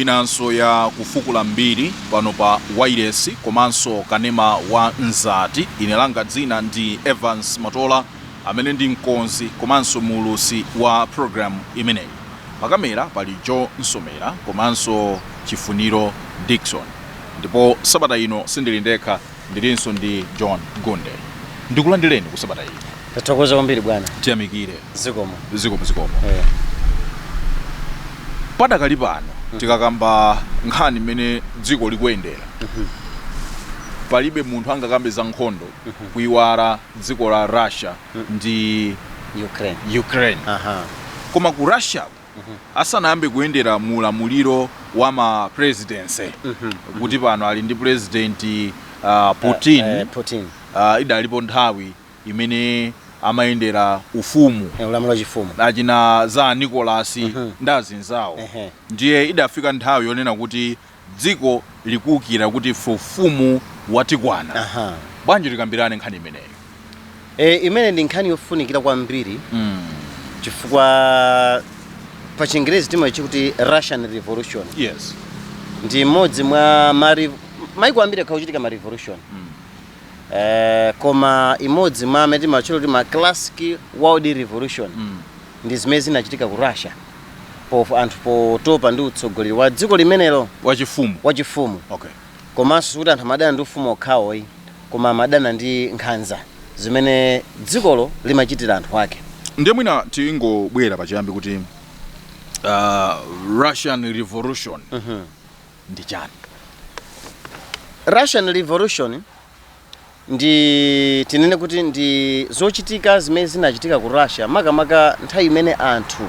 inanso ya kufukula mbiri pano pa wailesi komanso kanema wa Mzati ine langa dzina ndi evans matola amene ndi mkonzi komanso muulusi wa programu imeneyi Pa kamera pali Joe Nsomera komanso Chifuniro Dickson ndipo sabata ino sindili ndekha ndilinso ndi John Gunde. Ndikulandireni sabata ino. Tathokoza kwambiri bwana. Tiyamikire. Zikomo. Zikomo zikomo. Eh. Padakali pano tikakamba nkhani mmene dziko likuyendera palibe munthu angakambe za nkhondo kuiwala dziko la Russia ndi Ukraine. Ukraine. Aha. Koma ku Russia asanayambe kuyendera mu ulamuliro wa ma presidency kuti pano ali ndi president uh, Putin Eh, eh, Putin. uh, idalipo nthawi imene amayendera ufumu Eh, Ulamuliro wa chifumu. achina Tsar Nicholas ndi azinzawo Ehe. ndiye idafika nthawi yonena kuti Dziko likuukira kuti ife ufumu watikwana. Aha. Bwanji tikambirane nkhani imeneyo? E, imene ndi nkhani yofunikira kwambiri Mm. chifukwa pa chingerezi timayitcha kuti russian revolution Yes. ndi imodzi mwa mari maiko ambiri akhala akuchitika ma revolution Mm. eh, koma imodzi mwa amene timatcha kuti ma classic world revolution Mm. ndi zimene zinachitika ku russia pof anthu potopa ndi utsogoleri wa dziko limenelo wachifumu wachifumu okay komanso sikuti anthu amadana ndi ufumu okhawo ayi koma amadana ndi nkhanza zimene dzikolo limachitira anthu ake ndiye mwina tingobwera pachiyambi kuti uh, russian revolution ndi chani russian revolution ndi tinene kuti ndi zochitika zimene zinachitika ku russia makamaka nthawi imene anthu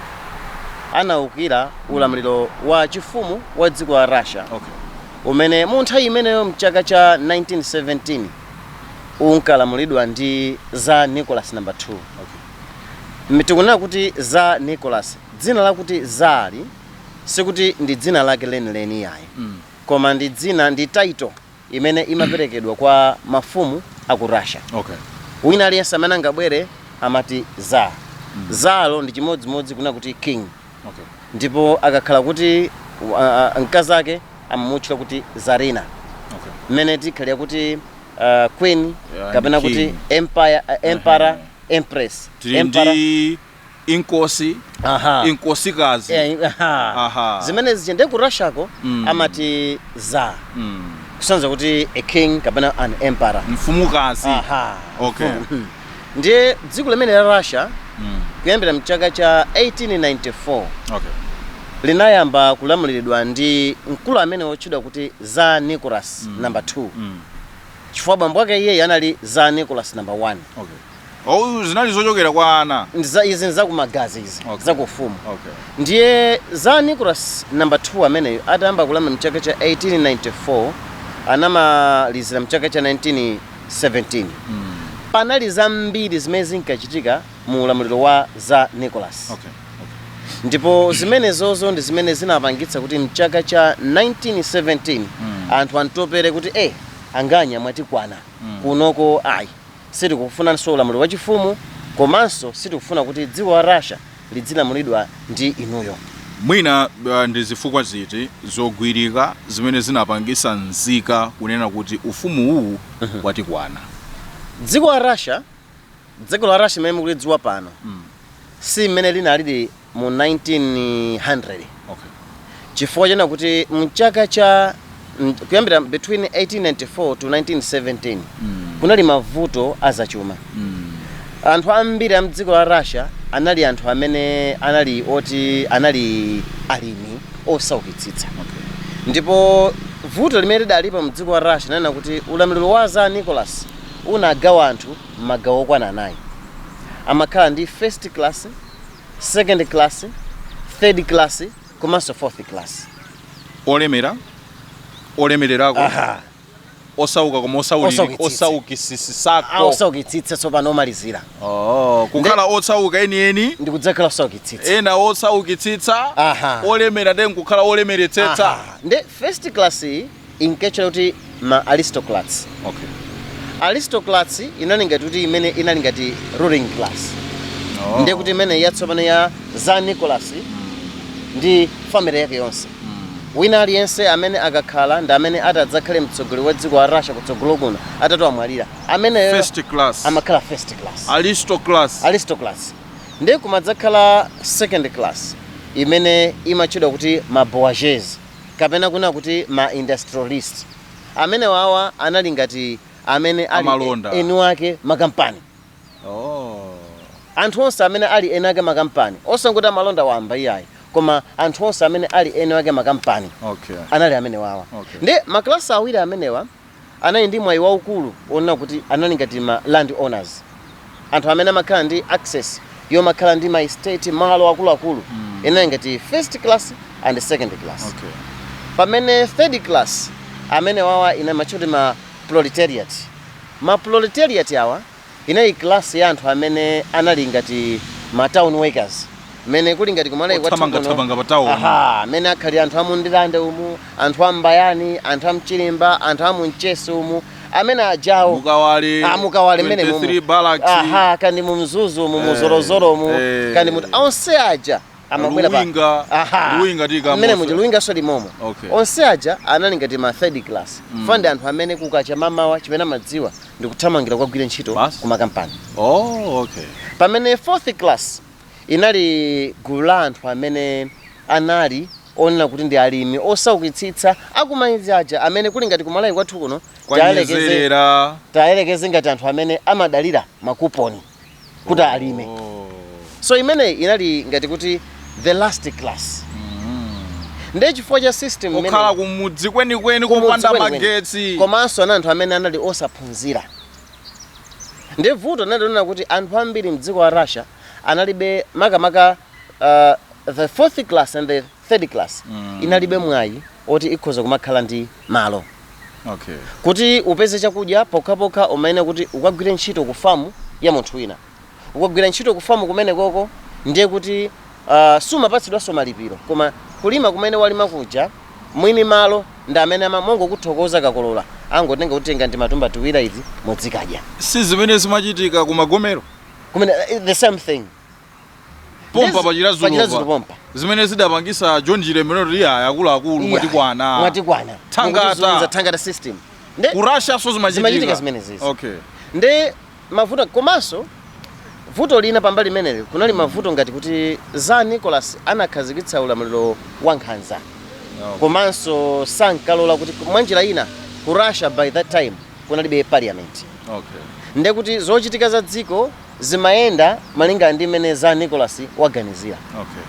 anaukira ulamuliro wa chifumu wa dziko la russia okay umene mu nthawi imeneyo mchaka cha 1917 unkalamulidwa ndi tsar nicholas number 2 okay Mme tikunena kuti tsar nicholas dzina lakuti tsar sikuti ndi dzina lake lenileni yayi mm. koma ndi dzina ndi title imene imaperekedwa kwa mafumu a ku Russia. Okay. Wina aliyense amene angabwere amati Tsar. Mm. Tsar-yo ndi chimodzimodzi kunena kuti king. Okay. Ndipo akakhala kuti uh, mkazi wake amamutchula kuti Tsarina. Okay. Mmene tikhalira kuti uh, queen yeah, kapena kuti empire, uh, emperor, uh -huh. empress. Tiri ndi inkosi Aha. inkosikazi Eh, aha. Aha. zimene zija nde ku Russiako Mm. amati Tsar Mm. kusonyeza kuti a king kapena an emperor mfumukazi Aha. Okay. Mhm. ndiye dziko limeneli la Russia Mm. kuyambira mchaka cha 1894 Okay. linayamba kulamuliridwa ndi mkulu amene wotchedwa kuti Tsar Nicholas Mm. number 2 Mm. chifukwa bambo ake iyeyi anali Tsar Nicholas number 1 Okay. Oh, zinali zochokera kwa ana. Ndi za izi nzakumagazi izi Okay. za kufumu Okay. ndiye Tsar Nicholas number 2 ameneyo atayamba kulamula mchaka cha 1894 anamalizira mchaka cha 1917 panali zambiri zimene zinkachitika mu ulamuliro wa Tsar Nicholas Okay. ndipo zimenezozo ndi zimene zinapangitsa kuti mchaka cha 1917 anthu amtopere kuti e anganya mwatikwana kunoko ayi Sitikufunanso ulamuliro wachifumu komanso sitikufuna kuti dziko la Russia lidzilamulidwa ndi inuyo. Mwina ndi zifukwa ziti zogwirika zimene zinapangitsa nzika kunena kuti ufumu uwu watikwana? Dziko la Russia, Dziko la Russia limene mukulidziwa pano si mmene linalili mu 1900. Okay. Chifukwa chonena kuti mchaka cha kuyambira between 1894 to 1917 mm. kunali mavuto azachuma mm. anthu ambiri a mdziko la Russia anali anthu amene anali oti anali alimi osaukitsitsa okay. ndipo vuto limene lidalipo mdziko la Russia nonena kuti ulamuliro wa Tsar Nicholas unagawa anthu m'magawo okwana anayi amakhala ndi first class second class third class komanso fourth class olemera olemererako Aha. osauka koma osauki- Osaukitsitsa. osaukitsitsako Ah, osaukitsitsa tsopano omalizira Oh, kukhala osauka enieni ndikudzakhala osaukitsitsa ena osaukitsitsa Aha. olemera then kukhala olemeretsetsa Aha. nde first class iyi inkatchedwa kuti ma aristocrats okay aristocrats inali ngati kuti imene inali ngati ruling class oh. ndiye kuti imene yatsopano ya Tsar Nicholas ndi family yake yonse wina aliyense amene akakhala ndi amene atadzakhale mtsogoleri wa dziko la Russia kutsogolo kuno atati wamwalira ameneyo first class amakhala first class aristocrats aristocrats ndiye kumadzakhala second class imene imatchedwa kuti ma bourgeois kapena kunena kuti ma industrialist amenewawa anali ngati amene ali Amalonda. e- eni ake makampani Oh. anthu onse amene ali eni ake makampani osangoti amalonda wamba iyayi koma anthu onse amene ali eni ake makampani Okay. anali amenewawa Okay. ndi maklasi awiri amenewa anali ndi mwayi waukulu onena kuti anali ngati ma land owners anthu amene amakhala ndi access yomakhala ndi ma estate malo akuluakulu inali ngati first class and second class Okay. pamene third class amene awawa ena amatcha kuti ma proletariat ma proletariat awa Inali class ya anthu amene anali ngati ma town workers mmene kuli ngati kumalawi kwathu Othamanga- kuno. thamanga pa town. Aha, mmene akhalira anthu a mu Ndirande umu anthu a m'Mbayani anthu a m'Chirimba anthu a mu Mchesi umu amene ajawo Mukawale, Ah, mukawale m'Area 23 Barracks. aha kaya ndi mu Mzuzu umu Eh, mu Zolozolo umu eh. kaya ndi muti onse aja amabwera pa Luwinga- Aha. Luwinga ndi ku Mzuzu. Mmene muja luwinga so limomo Okay. onse aja anali ngati ma third class ah ndi anthu amene kukacha mamawa chimene amadziwa ndi kuthamangira kukagwira ntchito Basi. ku makampani oh okay pamene fourth class inali gulu la anthu amene anali onena kuti ndi alimi osaukitsitsa akumaidzi aja amene kuli ngati kumalawi kwathu kuno tayelekeze- kwa Nyezerera tayelekeze ngati anthu amene amadalira makuponi kuti alime Oh. so imeneyi inali ngati kuti the last class ndiye chifukwa cha system imene- okhala kumudzi kwenikweni kumudzi kopanda kwenikweni. magetsi komanso anali anthu amene anali osaphunzira nde vuto linali lonena kuti anthu ambiri mdziko la russia analibe makamaka uh, the fourth class and the third class mm. inalibe mwayi oti ikhoza kumakhala ndi malo okay. kuti upeze chakudya pokhapokha umayenera kuti ukagwire ntchito ku famu ya munthu wina ukagwira ntchito ku famu kumene koko ndiye kuti uh, sumapatsidwanso malipiro koma kulima kumene walima kuja mwini malo ndi amene amamongokuthokoza akakolola angotenga kuti tengani matumba tiwira izi mudzikadya si zimene zimachitika ku Magomero kumene eh, the same thing pompa Yes, pa Chiradzulu pa Chiradzulu pompa. zimene zidapangisa john chilembwe kuti aya akuluakulu Iya. mwatikwana mwatikwana Thangata. Mukutizunza thangata system nde ku russianso Zimachitika zimachitika zimenezi. okay nde mavuto komanso vuto lina pambali imeneyo kunali mavuto ngati kuti tsar nicholas anakhazikitsa ulamuliro wa nkhanza Okay. komanso sankalola kuti mwanjira ina ku russia by that time kunalibe parliament okay nde kuti zochitika za dziko zimayenda malinga ndi mmene Tsar Nicholas waganizira. Okay.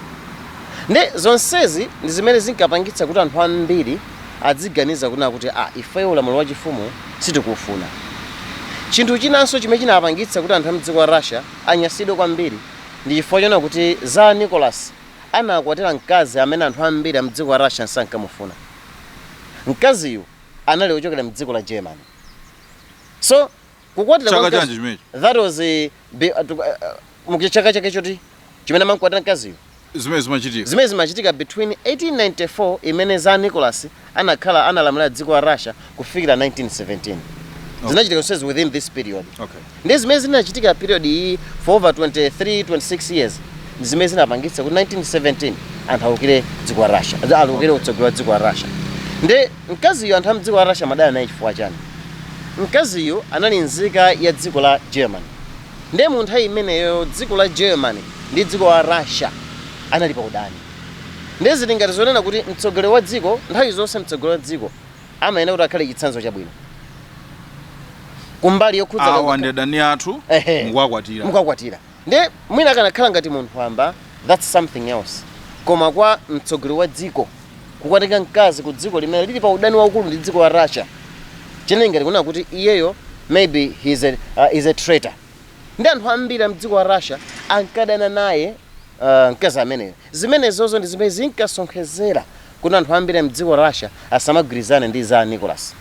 Nde zonsezi ndi zimene zinkapangitsa kuti anthu ambiri adziganiza kunena kuti ah, ifeyo ulamuliro wachifumu sitikuufuna. Chinthu chinanso chimene chinapangitsa kuti anthu a m'dziko la Russia anyansidwe kwambiri ndi chifukwa chonena kuti Tsar Nicholas anakwatira mkazi amene anthu ambiri a m'dziko la Russia sankamufuna. Mkaziyu anali wochokera m'dziko la Germany. So kukwatira Chaka kwa mkazi- chanji chimenechi? that was eh, be- uh, tuku- uh, uh, mu chaka chake choti chimene amankwatira mkaziyo zimene zimachitika zimene zimachitika between 1894 imene Tsar nicholas anakhala analamulira dziko la russia kufikira 1917 zinachitika zonsezi within this period okay ndi zimene zinachitika period iyi for over 23 26 years ndi zimene zinapangitsa kuti 1917 anthu awukire dziko la russia awukire utsogoleri wa dziko la russia ndi Mkaziyu anthu a mdziko la Russia amadana naye chifukwa chani? Mkaziyu anali nzika ya dziko la Germany nde mu nthawi imeneyoyo dziko la Germany ndi dziko la Russia anali pa udani nde zili ngati zonena kuti mtsogoleri wa dziko nthawi zonse mtsogoleri wa dziko amayenera kuti akhale chitsanzo chabwino kumbali yokhudzana Awa ndi adani athu ehe mukuwakwatira. Nde mwina akanakhala ngati munthu wamba that's something else koma kwa mtsogoleri wa dziko kukatenga mkazi ku dziko limene lili pa udani waukulu ndi dziko la Russia zinali ngati kunena kuti iyeyo maybe he is a, uh, is a traitor ndi anthu ambiri a mdziko la Russia ankadana naye uh, mkazi ameneyo zimenezozo ndi zimene zinkasonkhezera kuti anthu ambiri a mdziko la Russia asamagwirizane ndi Tsar Nicholas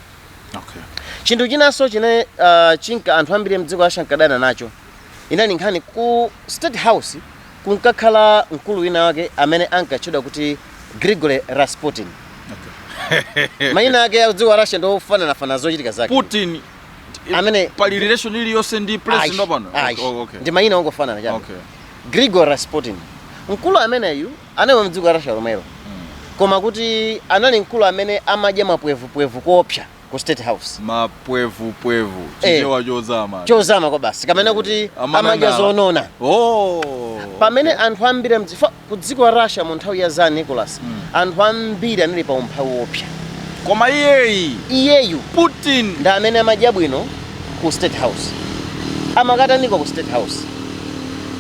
Okay. chinthu chinanso chine uh, chinka anthu ambiri mdziko la russia ankadana nacho inali nkhani ku state house kunkakhala mkulu wina wake amene ankatchedwa kuti grigory rasputin mayina ake a dziko la russia ndi ofananafana zochitika zake Putin Amene- pali relation iliyonse ndi president Ayi, wapano. ayi. Oh, okay. ndi mayina ongofanana chabe Okay. grigory rasputin mkulu ameneyu anali wamdziko la Russia lomwelo koma kuti anali mkulu amene amadya mapwevupwevu koopsa ku state house mapwevupwevu Eh. chichewa chozama chozama kwabasi kapena kuti Amanang'ala. amadya zonona oh pamene anthu ambiri amdzi- fa- ku dziko la Russia mu nthawi ya Tsar Nicholas anthu ambiri anali pa umphawi woopsa koma iyeyi iyeyu Putin ndi amene amadya bwino ku state house. Amakataniko ku state house?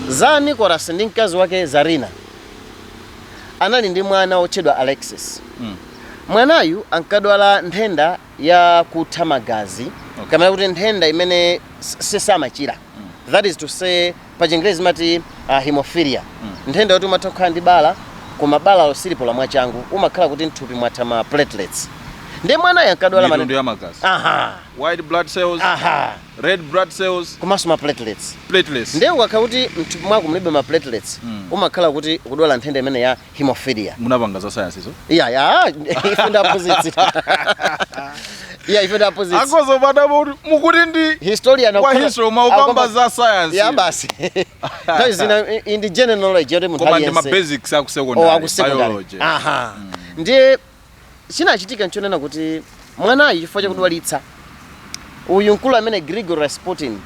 Tsar Nicholas ndi mkazi wake Tsarina anali ndi mwana wotchedwa Alexis. Mm. Mwanayu ankadwala nthenda ya kutha magazi Okay. kapena kuti nthenda imene s- sisamachira. That is to say pa chingerezi amati uh, hemophilia mm. nthenda yoti umatha kukhala ndi bala koma balalo silipola mwachangu umakhala kuti mthupi mwatha ma platelets ndiye mwanayo ankadwala mitundu matenda ya magazi a white blood cells aha red blood cells komanso ma platelets platelets ndiye ukakhala kuti mthupi mwako mulibe ma platelets Mm. umakhala kuti ukudwala nthenda imene ya hemophilia munapanga za science izo iya ya ife nd'aphunzitsi iya ife nd'aphunzitsi akudzadabwa kuti mukuti ndi historian wa history mukukamba za science ya basi that is in the general knowledge yoti munthu koma ndi ma aliyense basics aku Oh, secondary aku secondary. biology aha ndiye chinachitika nchonena kuti mwanayu chifukwa chakudwalitsa uyu mkulu amene Gregory Rasputin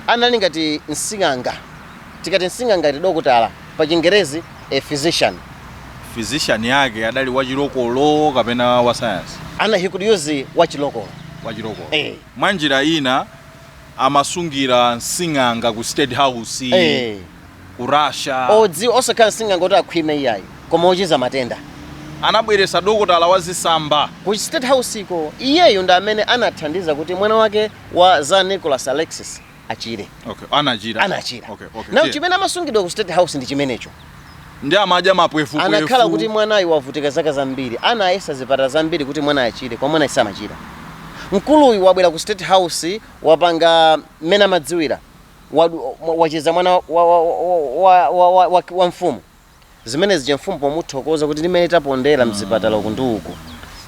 anali ngati msing'anga tikati msing'anga ndi dokotala pa chingerezi a physician physician yake adali wachilokolo kapena wa science ana he could use wachilokolo wachilokolo Eh. mwa njira ina amasungira msing'anga ku state house eh. ku Russia. Odzi osakhala nsinganga oti akhwime iyayi koma ochiza matenda. Anabweresa dokotala wa zisamba. Ku state house ko. Iyeyu ndi amene anathandiza kuti mwana wake wa Tsar Nicholas Alexis achire. Okay, anachira. Anachira. Okay, okay. Now chimene amasungidwa ku state house ndi chimenecho. Ndiye amadya mapwefu pwefu. Anakhala kuti mwanayu wavutika zaka zambiri. Anayesa zipatala zambiri kuti mwanayu achire koma mwanayu samachira. Mkuluyu wabwera ku state house wapanga mmene amadziwira. wad, mwa- wachiza mwana wa, wa, wa, wa, wa, wa, wa, wa mfumu zimene zija mfumu pomuthokoza kuti ndi mmene tapondera mzipatala uku ndi uku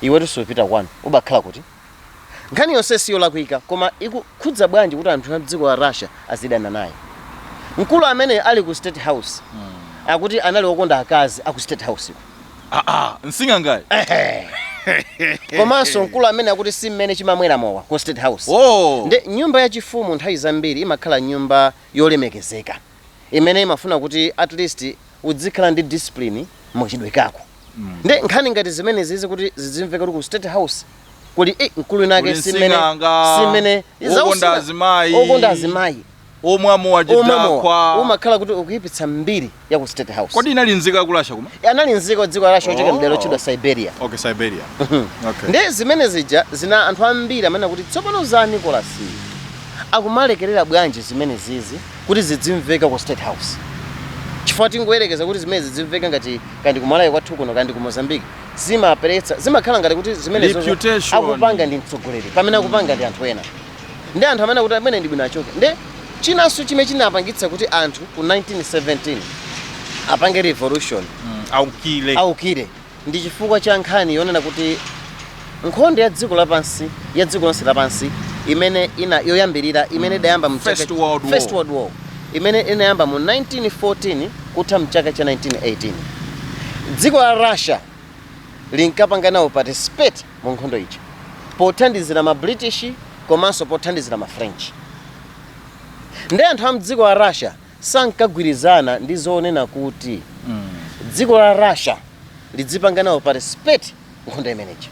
iwetu supita kwanu ubakhala kuno nkhani yonse siyolakwika koma ikukhudza bwanji kuti anthu a dziko la russia azidana naye mkulu ameneyu ali ku state house akuti anali okonda akazi aku state house aa msing'angayo Ehe. komanso mkulu ameneyu akuti si mmene chimamwera mowa ku state house oh. nde nyumba yachifumu nthawi zambiri imakhala nyumba yolemekezeka imene imafuna kuti at least udzikhala ndi discipline m'mchitidwe kako nde nkhani ngati zimenezizi kuti zidzimveka kuti ku state house kuli eh, mkulu winawake Kuli simene msing'anga, simene okonda azimayi. okonda azimayi omwa mowa omwa mowa chidakwa umakhala kuti ukuyipitsa mbiri ya ku state house kodi anali nzika ya ku russia kuma anali nzika dziko la russia ochokera Oh. mdera lotchedwa siberia okay siberia okay ndi zimene zija zina anthu ambiri amanena kuti tsopano Tsar Nicholas akumalekerera bwanji zimenezizi kuti zidzimveka ku state house chifukwa tingoyerekeza kuti zimenezi zidzimveka ngati kaya ndi kumalawi kwathu kuno kaya ndi ku mozambique zimapereka zimakhala ngati kuti zimene Reputation. akupanga ndi mtsogoleri pamene akupanga ndi anthu ena nde anthu amanena kuti ameneyu ndi bwino achoke nde chinanso chimene chinapangitsa kuti anthu ku 1917 apange revolution Mm, aukire aukire ndi chifukwa cha nkhani yonena kuti nkhondo ya dziko lapansi ya dziko lonse lapansi imene ina yoyambirira imene idayamba mu chaka- First World War. First World War imene inayamba mu 1914 kutha mchaka cha 1918 dziko la russia linkapanga nawo participate mu nkhondo ija pothandizira ma British komanso pothandizira ma French. Ndi anthu a mdziko la Russia sankagwirizana ndi zoonena kuti dziko la Russia lidzipanga nawo participate nkhondo imeneja.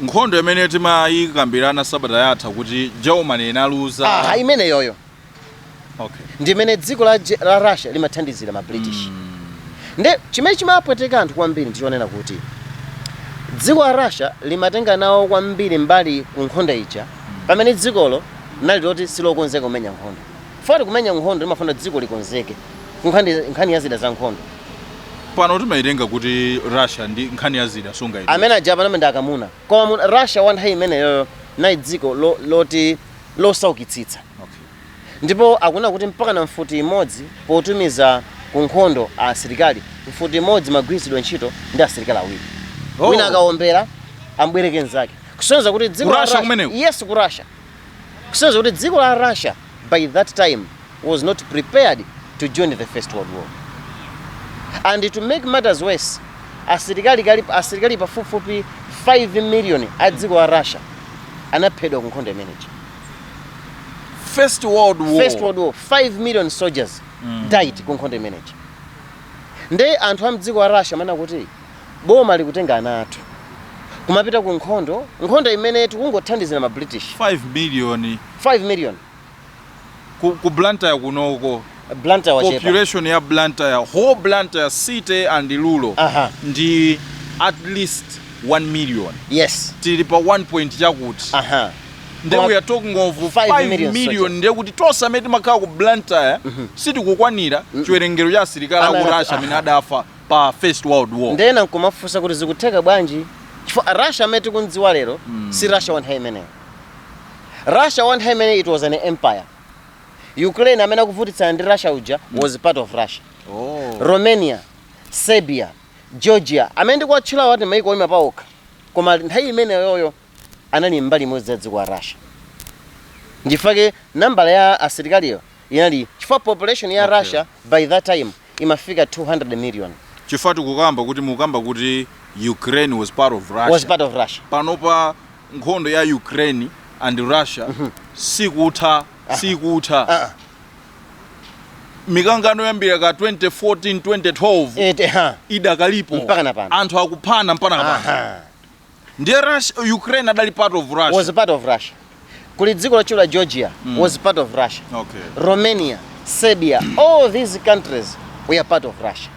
nkhondo imene timayikambirana sabata yatha kuti germany inaluza Aha, imeneyoyo. okay. ndimene dziko la, la russia limathandizira ma british mm. nde chimene chimapweteka anthu kwambiri ndichonena kuti dziko la russia limatenga nawo kwambiri mbali ku nkhondo ija mm. pamene dzikolo nali loti silokonzeka kumenya nkhondo poti kumenya nkhondo zimafuna dziko likonzeke nkhani ya zida za nkhondo pano timaitenga kuti russia ndi nkhani ya zida sunga amene aja pano ndi akamuna koma russia wa nthawi imeneyoyo linali dziko loti lo losaukitsitsa ndipo akunena kuti mpaka na mfuti imodzi potumiza ku nkhondo asilikali mfuti imodzi imagwiritsidwa ntchito ndi asilikali awiri Oh. wina akawombera ambwereke mnzake kusonyeza kuti dziko Ku la Russia Russia- kumeneko? yes ku russia kusonyeza kuti dziko la russia by that time was not prepared to join the First World War. And to make matters worse, asilikali kali asilikali pafupifupi 5 million a dziko la Russia anaphedwa ku nkhondo imeneyi. First World War. First World War, 5 million soldiers mm. died ku nkhondo imeneyi. Nde anthu a mdziko la Russia amaona kuti boma likutenga ana athu kumapita ku nkhondo nkhondo imene tikungothandizira ma British 5 million 5 million ku, ku Blantyre kunoko Blantyre wachepa. population ya Blantyre whole Blantyre city and rural Aha. ndi at least 1 million Yes. tili pa 1 point chakuti Aha. nde Koma- we are talking of Five 5 million million, soldiers. nde kuti tonse amene timakhala ku Blantyre sitikukwanira chiwerengero cha asilikali Ana- aku Russia amene aha. adafa pa first world war Nde ena nkumafunsa kuti zikutheka bwanji? Chifukwa Russia amene tikumdziwa lero si Russia wa nthawi imeneyo. Russia wa nthawi imeneyo it was an empire. Ukraine amene akuvutitsana ndi Russia uja was part of Russia. Oh. Romania, Serbia, Georgia amene ndikuwatchulawa ndi maiko oyima paokha koma nthawi imeneyoyo anali mbali imodzi ya dziko la Russia. Ndi chifukwa chake nambala ya asilikaliyo inali chifukwa population ya okay. Russia by that time imafika 200 million chifukwa tikukamba kuti mukamba kuti Ukraine was part of Russia was part of Russia panopa nkhondo ya Ukraine and Russia mm -hmm. sikutha ah. sikutha uh ah. -uh. mikangano yoyambira ka 2014 2012 idakalipo anthu akuphana mpaka na pano ndiye Russia, Ukraine adali part of Russia. was part of Russia. Kuli dziko lotchedwa Georgia was part of Russia. Okay. Romania, Serbia, all these countries were part of Russia.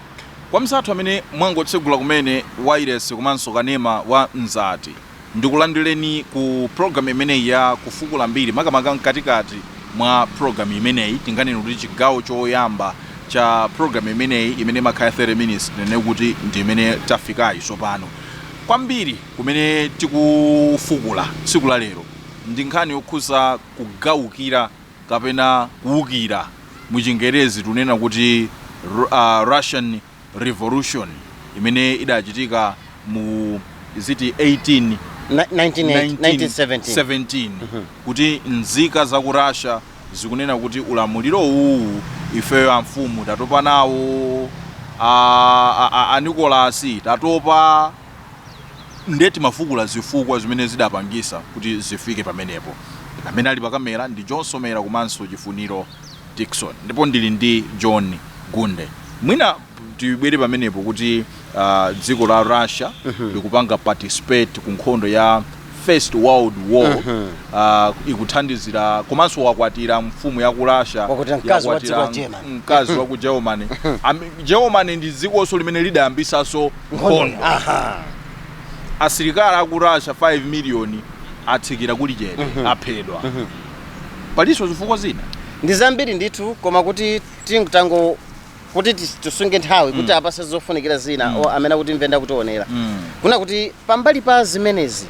kwa anzathu amene mwangotsegula kumene wailesi komanso kanema wa Mzati ndikulandireni ku programu imeneyi ya kufukula mbiri makamaka mkatikati mwa programu imeneyi tinganene kuti chigawo choyamba cha programu imeneyi imene imakhala 30 minutes tinene kuti ndi imene tafikayi tsopano Kwambiri kumene tikufukula tsiku la lero ndi nkhani yokhudza kugalukira kapena kuwukira, mu chingerezi tikunena kuti Russian Revolution imene idachitika mu is it 18. 1917 kuti nzika za ku Russia zikunena kuti ulamuliro uwu ifeyo amfumu tatopa nawo a, a, a, a Nicholas tatopa nde timafukula zifukwa zimene zidapangitsa kuti zifike pamenepo amene ali pakamera ndi John Somera komanso Chifuniro Dickson ndipo ndili ndi John Gunde mwina tibwere pamenepo kuti ah, dziko la russia likupanga participate ku nkhondo ya first world war Ah, ikuthandizira komanso wakwatira mfumu ya ku russia Wakwatira mkazi wa dziko la yakwatira Germany. mkazi wa ku germany Am- germany ndi dzikonso limene lidayambitsanso nkhondo Aha. asilikali aku russia 5 miliyoni atsikira kuli chete aphedwa palinso zifukwa zina ndi zambiri ndithu koma kuti tingotango kuti tis- tisunge nthawi kuti apatse zofunikira zina o amene akutimvera ndi kutionera kunena kuti pambali pa zimenezi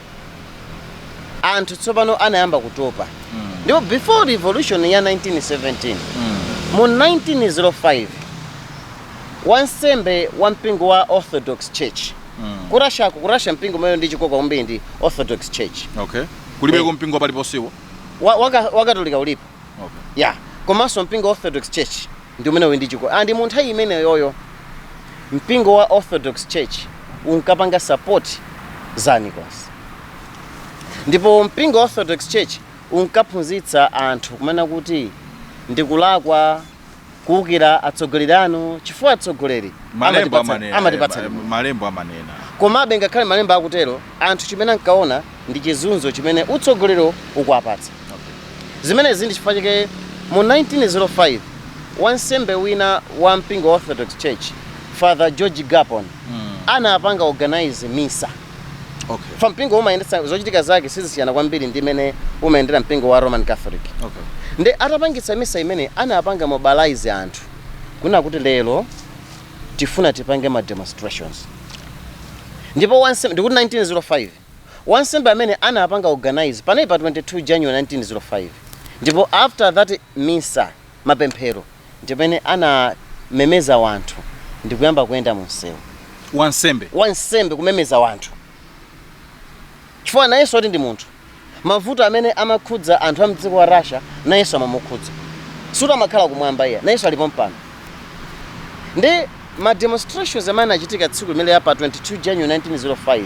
anthu tsopano anayamba kutopa ndipo before revolution ya 1917 mu 1905 wansembe wa mpingo wa orthodox church ku russia ku russia mpingo umene uli ndi chikoka kwambiri ndi orthodox church okay kulipoko Eh. mpingo paliponsewo wa- waka- wakatolika ulipo okay. ya komanso mpingo wa orthodox church ndi umene uli ndi chikoka and mu nthawi imeneyoyo mpingo wa orthodox church unkapanga support za a Nicholas ndipo mpingo wa orthodox church unkaphunzitsa anthu kumanena kuti ndikulakwa kuukira atsogoleri anu chifukwa atsogoleri malembo amatipatsa- amanena amatipatsa eh, limwe. malembo amanena komabe ngakhale malembo akutero anthu chimene ankaona ndi chizunzo chimene utsogoleri ukuwapatsa Zimenezi ndi chifukwa chake mu 1905 wansembe wina wa mpingo wa Orthodox Church, Father George Gapon, anapanga organize misa. Okay. Fa mpingo umayendetsa zochitika zake sizisiyana kwambiri ndi mmene umayendera mpingo wa Roman Catholic. Okay. Nde atapangitsa misa imene anapanga mobilize anthu kunena kuti lero tifuna tipange ma demonstrations. Ndipo wansembe ndikuti 1905 wansembe amene anapanga organize panali pa 22 January 1905 ndipo after that misa, mapemphero, ndipamene anamemeza wanthu ndikuyamba kuyenda munsewu. Wansembe? Wansembe kumemeza wanthu chifukwa nayenso poti ndi munthu mavuto amene amakhudza anthu amdziko la Russia nayenso amamukhudza sikuti amakhala kumwamba iyayi nayenso ali pompano ndi Ma demonstrations amene anachitika tsiku limenelo la pa 22 January 1905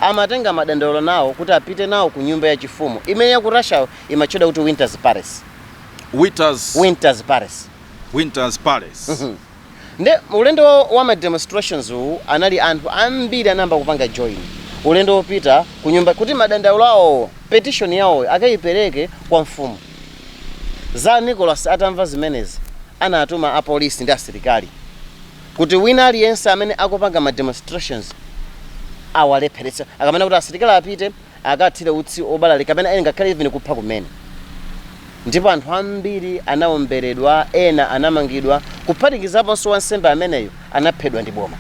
amatenga madandaulo nawo kuti apite nawo ku nyumba ya chifumu imene ya ku Russia imatchedwa kuti Winter's Palace. Winter's, Winter's Palace. Winter's Palace. Mhm. Nde ulendo wa, wa ma demonstrations uwu anali anthu ambiri anayamba kupanga join ulendo wopita ku nyumbako kuti madandaulo awo petition yawoyo akaipereke kwa mfumu. Tsar Nicholas atamva zimenezi anatuma a police ndi asilikali kuti wina aliyense amene akupanga ma demonstrations awalepheretse akanena kuti asilikali apite akathire utsi obalalika kapena ena ngakhale even kupha kumene ndipo anthu ambiri anaomberedwa ena anamangidwa kuphatikizaponso wansembe ameneyo anaphedwa ndi boma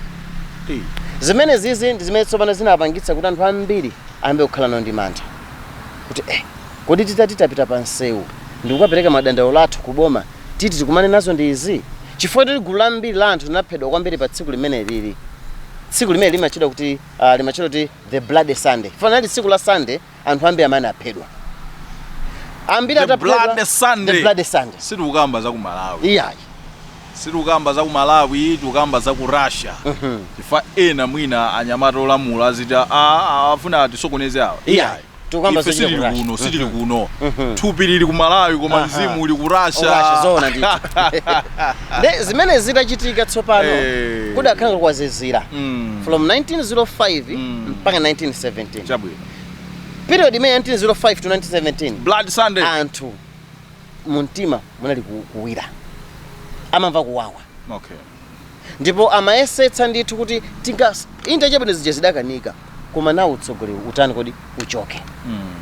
Hey. zimenezizi ndi zimene tsopano zinapangitsa kuti anthu ambiri ayambe kukhala nawo ndi mantha kuti eh, kodi titati tipite pa msewu ndikukapereka madandaulo athu ku boma titi tikumane nazo ndi izi chifukwa choti gulu lambiri la anthu linaphedwa kwambiri pa tsiku limeneli tsiku limeneli limatchedwa kuti uh, limatchedwa kuti the bloody sunday chifukwa linali tsiku la sunday anthu ambiri amene aphedwa ambiri The ataphedwa- Bloody Sunday. the bloody sunday sitikukamba za ku malawi iyayi Situkamba za ku Malawi tukamba za ku Russia chifukwa ena mwina anyamata olamula aziti aah afuna atisokoneze awa iyayi tukamba ife sitili kuno sitili kuno thupi lili ku Malawi koma mzimu uli ku Russia zoona ndithu nde zimenezi zitachitika tsopano eh. kudakhala kwa zii mm. from 1905 mm. mpaka 1917 chabwino period imeneyi 1905 to 1917 bloody sunday anthu mumtima munali ku- kuwira amamva kuwawa okay ndipo amayesetsa ndithu kuti tinga inde chabwino zija zidakanika koma nanga utsogoleriwu utani kodi uchoke mm.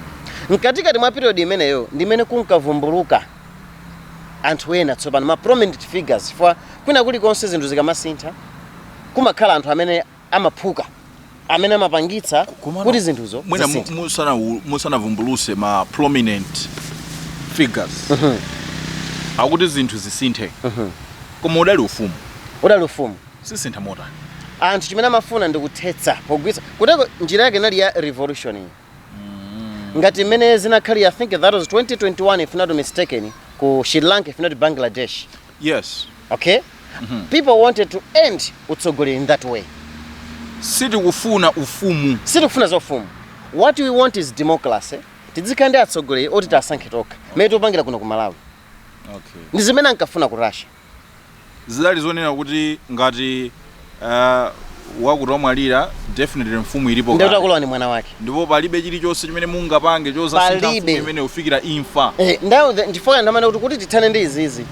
mkatikati mwa period imeneyo ndimene kunkavumbuluka anthu ena tsopano ma prominent figures chifukwa kwina kulikonse zinthu zikamasintha kumakhala anthu amene amaphuka amene amapangitsa Komano, kuti zinthuzo mwina mu- zisinthe. musana musanavumbuluse ma prominent figures akuti zinthu zisinthe koma udali ufumu udali ufumu zisintha motani anthu chimene amafuna ndi kuthetsa pogwetsa kotero njira yake inali ya revolution iyi ngati mmene zinakhalira i think that was 2021 if not mistaken ku sri lanka if not bangladesh Yes. Okay? Mm -hmm. People wanted to end utsogoleri in that way. Sitikufuna ufumu. Sitikufuna za ufumu. What we want is democracy. Tidzikhala ndi atsogoleri oti tasankha tokha. Mmene tikupangira kuno ku Malawi. Okay. Ndi zimene ankafuna ku Russia. Zidali zonena kuti ngati Uh, wakuti wamwalira definitely mfumu ilipo ndiye atakalowe ndi mwana wake ndipo palibe chilichonse chimene mungapange chodzasintha mfumu imene kufikira imfa eh, ndiye ndi chifukwa ndimanena kuti kuti tithane ndi izizi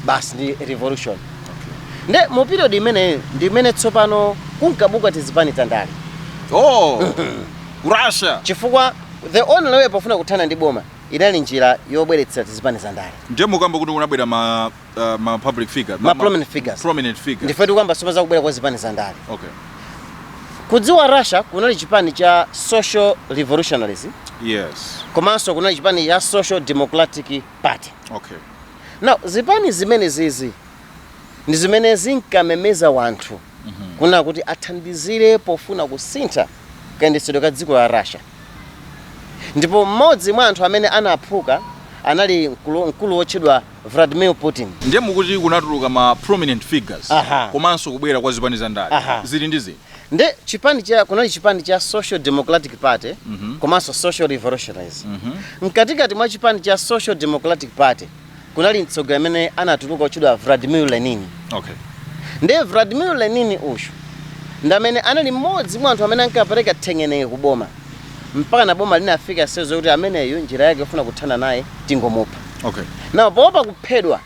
basi ndi revolution okay. nde mu period imene ndi imene tsopano kunkabuka tizipani tandale ku Russia chifukwa the only way pofuna kuthana ndi boma inali njira yobweretsera tizipani za ndale ndiye mukamba kuti kunabwera ma uh, ma public figure Ma prominent figures. prominent figure ndiye tikukamba zoma zakubwera kwa zipani za ndale okay kudziko la russia kunali chipani cha social revolutionaries yes komanso kunali chipani cha social democratic party okay now zipani zimenezizi ndi zimene zinkamemeza wanthu kunena kuti athandizire pofuna kusintha kayendetsedwe ka dziko la russia ndipo mmodzi mwa anthu amene anaphuka anali mkulu, mkulu wotchedwa Vladimir Putin. Ndiye mukuti kunatuluka ma prominent figures Aha. komanso kubwera kwa zipani za ndale Aha. zili ndi zinthu Nde chipani cha kunali chipani cha Social Democratic Party komanso Social Revolutionaries. Mkatikati mwa chipani cha Social Democratic Party kunali mtsogoleri amene anatuluka wotchedwa Vladimir Lenin. okay. Ndiye Vladimir Lenin uyu ndi amene anali mmodzi mwa anthu amene ankapereka thengenenge ku boma. mpakana boma linafika stage yokuti ameneyu njira yake yofuna kuthana naye tingomupha okay now poopa kuphedwa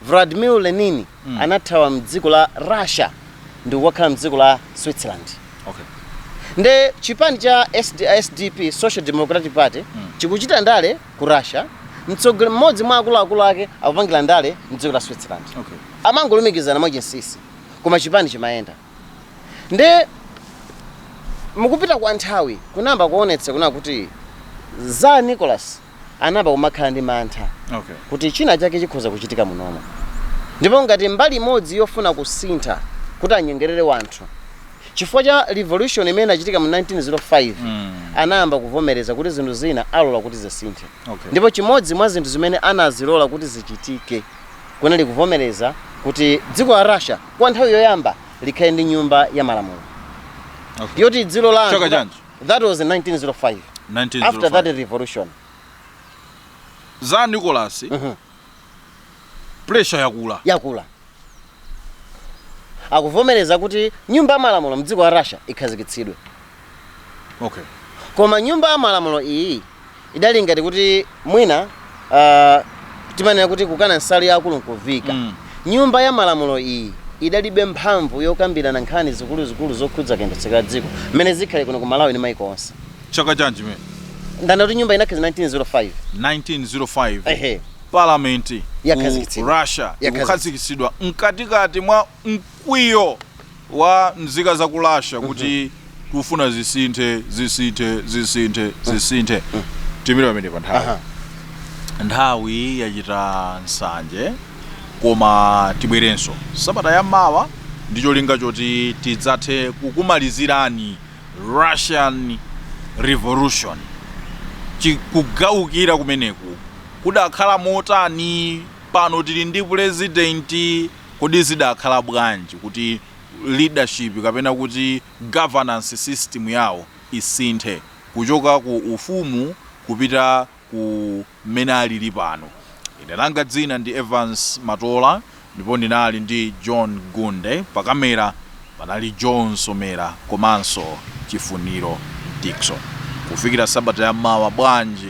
vladimir lenin Mm. anathawa mdziko la russia ndi kukakhala mdziko la switzerland okay nde chipani cha SD, sdp social democratic party Mm. chikuchita ndale ku russia mtsogoleri mmodzi mwa akuluakulu ake akupangira ndale mdziko la switzerland okay amangolumikizana mwachinsinsi koma chipani chimayenda nde mukupita kwa nthawi kunayamba kuonetsa kunena kuti Tsar Nicholas anayamba kumakhala ndi mantha okay kuti china chake chikhoza kuchitika munomo ndipo ngati mbali imodzi yofuna kusintha kuti anyengelere wanthu chifukwa cha revolution imene inachitika mu 1905 Mm. anayamba kuvomereza kuti zinthu zina alola kuti zisinthe Okay. ndipo chimodzi mwa zinthu zimene anazilola kuti zichitike kunali kuvomereza kuti dziko la russia kwa nthawi yoyamba likhale ndi nyumba ya malamulo Okay. yoti dziko la anthu- Chaka chanji? that was in 1905 after that 1905. revolution Tsar Nicholas Mhm. pressure yakula yakula akuvomereza kuti nyumba ya malamulo mdziko la russia ikhazikitsidwe okay koma nyumba ya malamulo iyi idali ngati kuti mwina uh, timanena kuti kukana nsalu ya akulu nkuviika Mm. nyumba ya malamulo iyi idalibe mphamvu yokambirana nkhani zikuluzikulu zokhudza kayendetsedwe ka dziko mmene zikhalira kuno ku malawi ndi maiko onse chaka chanji mwanena kuti nyumba inakhazikitsidwa 1905 1905 ehe parliament Yakhazikitsidwa. ku russia Yakhazikitsidwa. ikukhazikitsidwa mkatikati mwa mkwiyo wa mzika za ku Russia kuti kufuna zisinthe zisinthe zisinthe zisinthe tiimire pamene pa nthawi Aha. nthawi yachita nsanje koma tibwerenso sabata ya mawa ndi cholinga choti tidzathe kukumalizirani russian revolution Chi- kugalukira kumeneku kudakhala motani pano tili ndi pulezidenti Kodi zidakhala bwanji kuti leadership kapena kuti governance system yawo isinthe kuchoka ku ufumu kupita ku mmene alili pano? Ine langa dzina ndi Evans Matola ndipo ndinali ndi John Gunde, pa camera panali John Somera komanso Chifuniro Dickson. Kufikira sabata ya mawa bwanji?